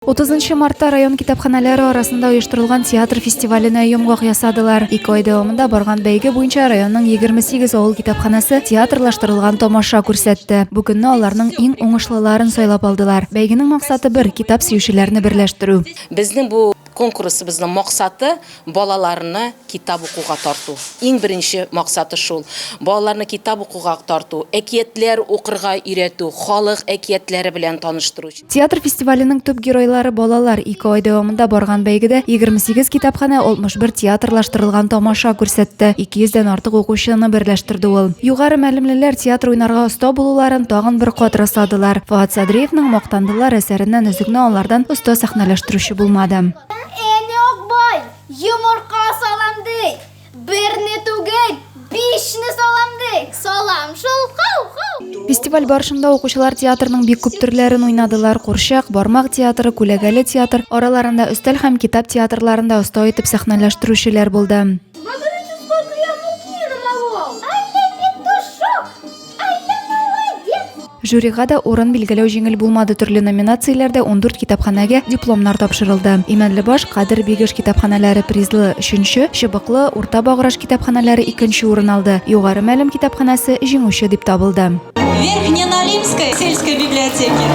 Утызынчы мартта район китапханәләре арасында оештырылган театр фестиваленә йомгак ясадылар. Ике ай дәвамында барган бәйге буенча районның 28 авыл китапханәсе театрлаштырылган тамаша күрсәтте. Бу көнне аларның иң уңышлыларын сайлап алдылар. Бәйгенең максаты бер, китап сөючеләрне берләштерү. Безнең бу конкурсыбызның максаты, Балаларны китап укуга тарту. Иң беренче максаты шул. Балаларны китап укуга тарту, әкиятләр укырга өйрәтү, халык әкиятләре белән таныштыру. Театр фестиваленең төп геройлары, балалар. Ике ай дәвамында барган бәйгедә 28 китапханә, 61 театрлаштырылган тамаша күрсәтте. 200 дән артык укучыны берләштерде ул. Югары мәлемлеләр театр уйнарга оста булуларын тагын бер кат расладылар. Фоат Садриевның Мактандылар әсәреннән өзекне алардан оста сәхнәләштерүче булмады. Әни Акбай, йомырка салам ди. Берне түгел, бишне салам ди. Салам шул, хау-хау. Фестиваль барышында укучылар театрның бик күп төрләрен уйнадылар. Курчак, бармак театры, күләгәле театр, араларында өстәл һәм китап театрларында оста итеп сәхнәләштерүчеләр булды. Жюрига да урын билгеләү җиңел булмады. Төрле номинацияләрдә 14 китапханәгә дипломнар тапшырылды. Имәнлебаш, Кадер Бигеш китапханәләре призлы 3-нче, Чыбыклы, Урта Баграж китапханәләре 2-нче урын алды. Югары Мәлем китапханәсе җиңүче дип табылды. Верхняя Налимская сельская библиотека.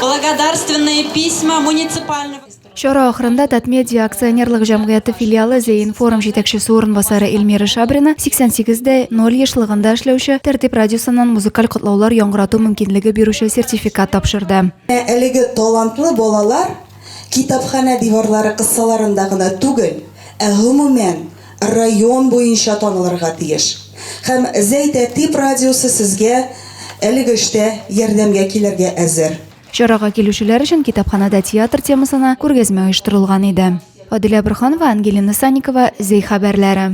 Благодарственные письма муниципального Чара ахырында Татмедиа акционерлык җәмгыяте филиалы Зеинформ җитәкчесе урынбасары Эльмира Шабрина 88 дә 0 ешлыгында эшләүче Тәртип радиосыннан музыкаль котлаулар яңгырату мөмкинлеге бирүче сертификат тапшырды. Менә әлеге талантлы балалар китапханә диварлары кысаларында гына түгел, ә гомумән, район буенча танылырга тиеш. Һәм Зәй Тәртип радиосы сезгә әлеге эштә ярдәмгә килергә әзер. Чарага килүчеләр өчен китапханада театр темасына күргәзмә оештырылган иде. Адилә Борханова, Ангелина Санникова, Зей хәбәрләре.